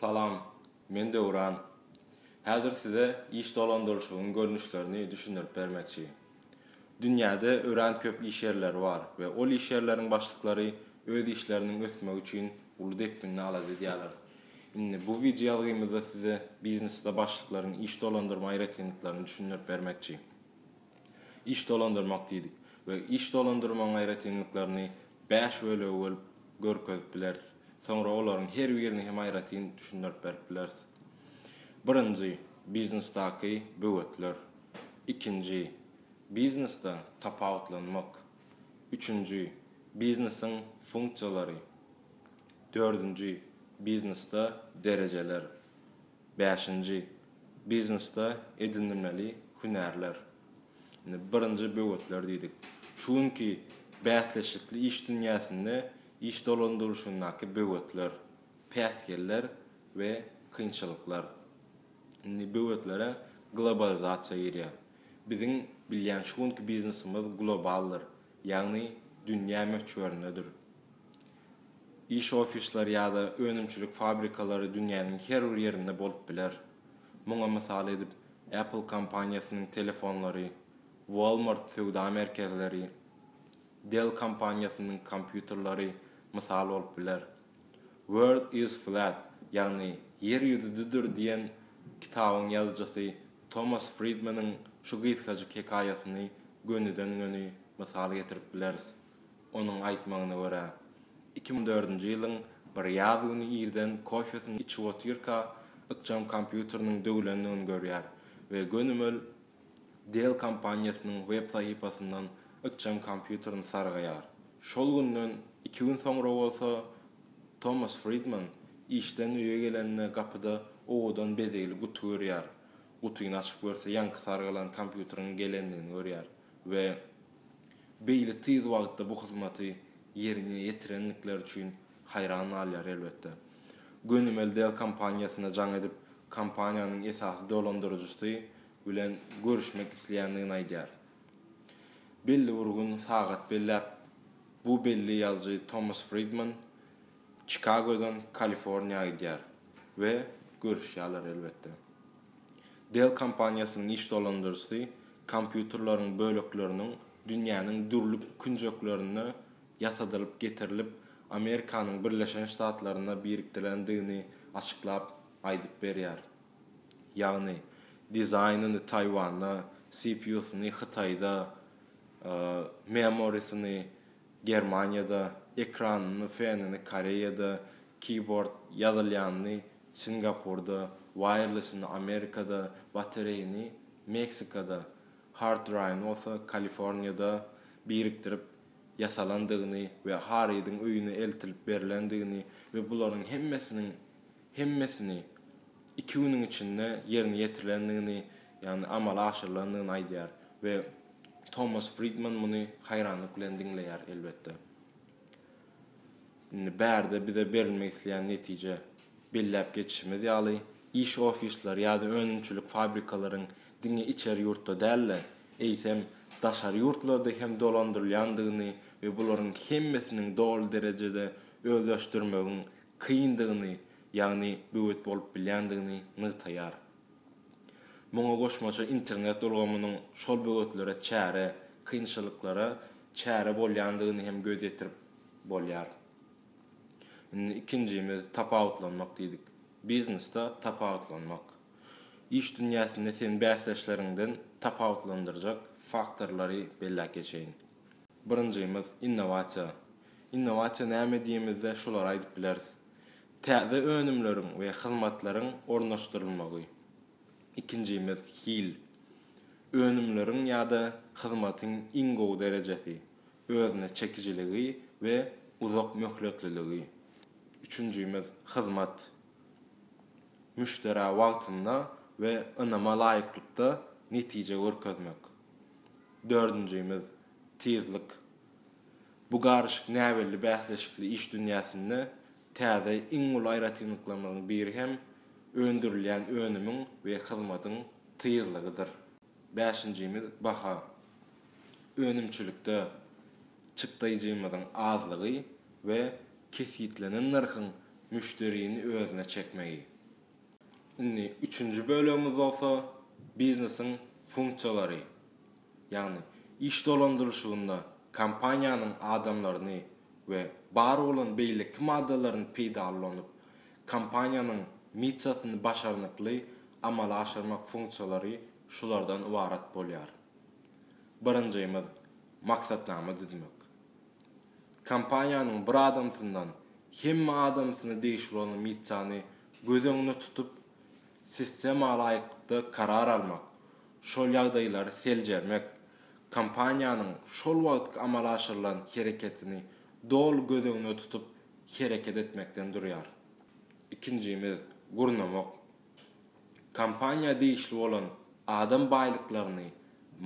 Salam, men Döwran. Häzir size iş dolandyryşygyň görnüşlerini düşündirip bermekçi. Dünýäde örän köp iş ýerleri bar we ol iş ýerleriň başlyklary öz işleriniň ösmegi üçin uly depginde alada edýärler. Indi bu wideoýazgymyzda size biznesde başlyklaryň iş dolandyrma aýratynlyklaryny düşündirip bermekçi. Iş dolandyrmak diýdik we iş dolandyrmagyň aýratynlyklaryny bäş bölege bölüp görkezip bileris. Soňra olaryň her birini hem aýratyn düşündirip berip bileris. Birinji, biznesdaky böwetler. Ikinji, biznesde tapawutlanmak. Üçünji, biznesiň funksiýalary. Dördünji, biznesde derejeler. Bäşinji, biznesde edinilmeli hünärler. Indi birinji böwetler diýdik. Şu günki bäsleşikli iş dünýäsinde iş dolandyrylyşyndaky böwetler, päsgeller we kynçylyklar. Indi böwetlere globalizasiýa girýär. Biziň bilýän şu günki biznesimiz globaldyr, ýagny dünýä möçberindedir. Iş ofisleri ýa-da önümçilik fabrikalary dünýäniň her bir ýerinde bolup biler. Muňa mysal edip, Apple kompaniýasynyň telefonlary, Walmart söwda merkezleri, Dell kompaniýasynyň kompýuterleri mysal bolup biler. World is flat, ýagny Ýer ýüzi düdür diýen kitabyň ýazyjysy Tomas Fridmanyň şu gysgajyk hekaýasyny gönüden-göni mysal getirip bileris. Onuň aýtmagyna görä, iki müň dördünji ýylyň bir ýaz güni irden kofesini içip otyrka, ykjam kompýuteriniň döwülendigini görýär we gönümel Dell kompaniýasynyň web sahypasyndan ykjam kompýuterini sargaýar. Şol günden iki gün soňra bolsa, Tomas Fridman işden öýe gelende gapyda owadan bezegli guty görýär. Gutyny açyp görse, ýaňky sargalan kompýuteriň gelendigini görýär we. beýle tiz wagtda bu hyzmaty ýerine ýetirendikleri üçin haýran galýar elbetde. Gönümel Dell kompaniýasyna jaň edip, kompaniýanyň esasy dolandyryjysy bilen görüşmek isleýändigini aýdýar. Belli bir gün, sagat belläp, bu belli ýazyjy Tomas Fridman Çikagodan Kaliforniýa gidýär we görüşýärler elbetde. Dell kompaniýasynyň iş dolandyryjysy kompýuterleriň bölekleriniň dünýäniň dürli künjeklerinde ýasadylyp getirilip, Amerikanyň Birleşen Ştatlarynda birikdirilendigini açyklap aýdyp berýär. Ýagny, dizaýnyny Taýwanda, CPU-syny Hytaýda, memory-syny Germaniýada, ekranyny, fenini Koreýada, keýbord, ýazylýanyny Singapurda, Wireless-ini Amerikada, Batareýini Meksikada, Hard Drive-ni bolsa Kaliforniýada birikdirip ýasalandygyny we Harridiň öýüne eltilip berlendigini we bularyň hemmesiniň hemmesini iki günüň içinde ýerine ýetirilendigini, ýagny amala aşyrylandygyny aýdýar we Tomas Fridman muny haýranlyk bilen diňleýär, elbetde. Indi bärde bize berilmek isleýän netije, belläp geçişimiz ýaly, iş ofisleri ýa-da önümçilik fabrikalaryň diňe içeri ýurtda däl-de, eýsem, daşary ýurtlarda hem dolandyrylýandygyny we bularyň hemmesiniň doly derejede özleşdirmegiň kyndygyny, ýagny böwet bolup bilýändigini nygtaýar. Muňa goşmaça internet ulgamynyň şol böwetlere çäre, kynçylyklara çäre bolýandygyny hem göz ýetirip bolýar. Indi ikinjimiz tapawutlanmak diýdik. Biznesde tapawutlanmak. Iş dünýäsinde seni bäsdeşleriňden tapawutlandyrjak faktorlary belläp geçeýin. Birinjimiz innowasiýa. Innowasiýa näme diýemizde şulary aýdyp bileris. Täze önümleriň we hyzmatlaryň ornaşdyrylmagy. Ikinjimiz hil. Önümleriň ýa-da hyzmatyň iň gowy derejesi, özüne çekijiligi we uzak möhletliligi. Üçünjimiz hyzmat. Müşderä wagtynda we ynama laýyklykda netije görkezmek. Dördünjimiz tizlik. Bu garyşyk näbelli bäsleşikli iş dünýäsinde täze iň uly aýratynlyklarynyň biri hem öndürilýän önümiň we hyzmatyň tyýyzlygydyr. Bäşinjimiz, baha. Önümçilikde çykdaýjymyzyň azlygy we kesgitlenen nyrhyň müşderini özüne çekmegi. Indi üçünji bölegimiz bolsa, biznesiň funksiýalary. ýagny iş dolandyryşygynda kompaniýanyň adamlaryny we bar bolan beýleki maddalaryny peýdalanyp, kompaniýanyň missiýasyny başarnykly amala aşyrmak funksiýalary şulardan ybarat bolýar. Birinjimiz, maksatnama düzmek. Kompaniýanyň bir adamsyndan hemme adamsyna degişli bolan missiýany göz öňünde tutup, Sistemalaýyklykda karar almak, şol ýagdaýlary seljermek, kompaniýanyň şol wagtky amala aşyrylan hereketini doly göz öňünde tutup hereket etmekden durýar. Ikinjimiz, gurnamak. Kompaniýa degişli bolan adam baýlyklaryny,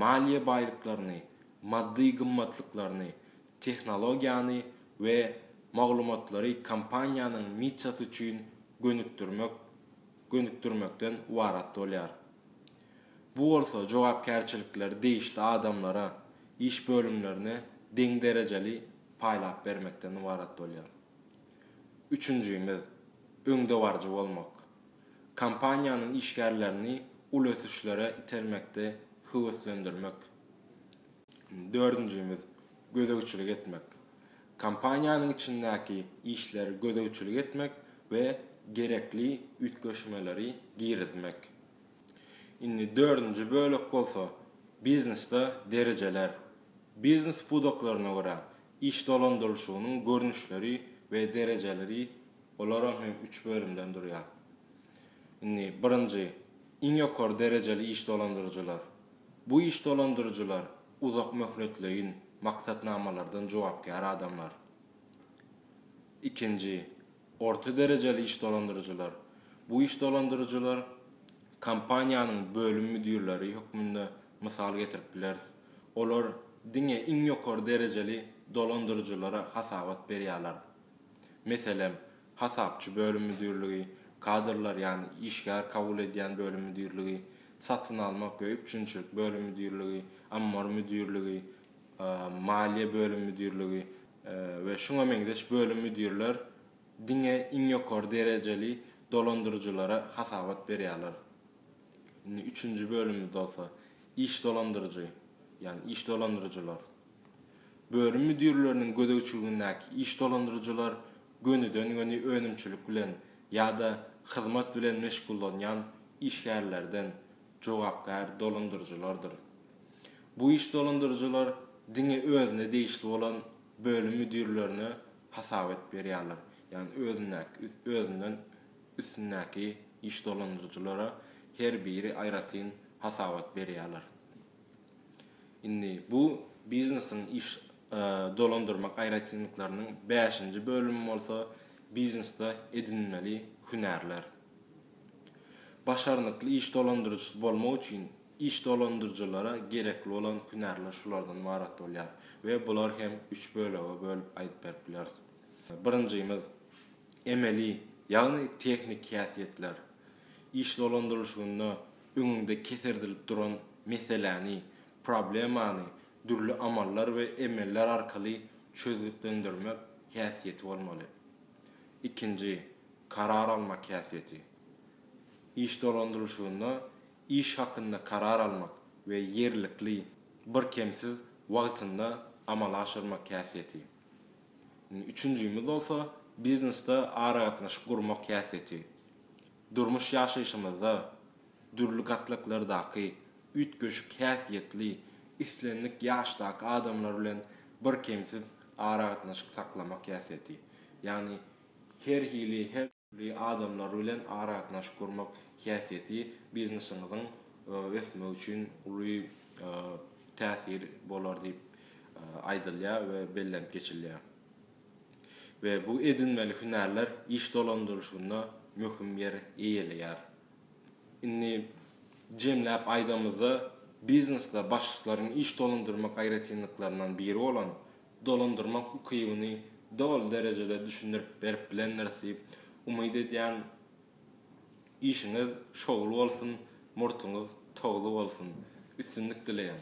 maliýe baýlyklaryny, maddy gymmatlyklaryny, tehnologiýany we maglumatlary kompaniýanyň missiýasy üçin gönükdirmek gönükdirmekden ybarat bolýar. Bu bolsa jogapkärçilikleri degişli adamlara, iş bölümlerine deň derejeli paýlap bermekden ybarat bolýar. Üçünjimiz, öňdebaryjy bolmak. Kompaniýanyň işgärlerini uly ösüşlere itermekde höweslendirmek. Dördünjimiz, gözegçilik etmek. Kompaniýanyň içindäki işleri gözegçilik etmek we gerekli üýtgeşmeleri girizmek. Indi dördünji bölek bolsa, biznesde derejeler. Biznes pudaklaryna görä, iş dolandyrylyşygynyň görnüşleri we derejeleri, olaram hem üç bölümden durýar. Indi birinji, iň ýokary derejeli iş dolandyryjylar. Bu iş dolandyryjylar uzak möhletleýin maksatnamalardan jogapkär adamlar. Ikinji, orta derejeli iş dolandyryjylar. Bu iş dolandyryjylar kompaniýanyň bölüm müdirleri hökmünde mysal getirip bileris. Olar diňe iň ýokary derejeli dolandyryjylara hasabat berýärler. Meselem, hasapçy bölüm müdirligi, kadrlar, ýagny işgär kabul edýän bölüm müdirligi, satyn almak we üpjünçilik bölüm müdirligi, ammar müdirligi, maliýe bölüm müdirligi we şuňa meňzeş bölüm müdirler diňe iň ýokary derejeli dolandyryjylara hasabat berýärler. Indi üçünji bölümimiz bolsa, iş dolandyryjy, ýagny iş dolandyryjylar. Bölüm müdirleriniň gözegçiligindäki iş dolandyryjylar gönüden-göni önümçilik bilen ýa-da hyzmat bilen meşgullanýan işgärlerden jogapkär dolandyryjylardyr. Bu iş dolandyryjylar diňe özüne degişli bolan bölüm müdirlerine hasap edip berýärler, ýagny özündäki özünden üstündäki iş dolandyryjylara her biri aýratyn hasabat berýärler. Indi bu biznesiň iş dolandyrmak aýratynlyklarynyň bäşinji bölümi bolsa biznesde edinmeli hünärler. Başarnykly iş dolandyryjysy bolmak üçin iş dolandyryjylara gerekli bolan hünärler şulardan ybarat bolýar we bular hem üç bölege bölüp aýdyp berip bileris. Birinjimiz, emeli, ýagny tehniki häsiýetler. Iş dolandyrylyşygynda öňüňde keserdilip duran meseläni, problemany dürli amallar we emeller arkaly çözgütlendirmek häsiýeti bolmaly. Ikinji, karar almak häsiýeti. Iş dolandyryşygynda iş hakynda karar almak we ýerlikli, birkemsiz wagtynda amala aşyrmak häsiýeti. Üçünjimiz bolsa, biznesde aragatnaşyk gurmak häsiýeti. Durmuş ýaşaýşymyzda dürli gatlaklardaky üýtgeşik häsiýetli, islendik ýaşdaky adamlar bilen birkemsiz aragatnaşyk saklamak häsiýeti, ýagny her hili, her dürli adamlar bilen aragatnaşyk gurmak häsiýeti biznesiňiziň ösmegi üçin uly täsir bolar diýip aýdylýar we bellenip geçilýär. we bu edinmeli hünärler iş dolandyrylyşynda möhüm ýer eýeleýär. Indi jemläp aýdamyzda, biznesde başlyklaryň iş dolandyrmak aýratynlyklaryndan biri bolan dolandyrmak ukybyny doly derejede düşündirip berip bilendiris diýip umyt edýän. Işiňiz şowly bolsun, murtuňyz towly bolsun. Üstünlik dileýän.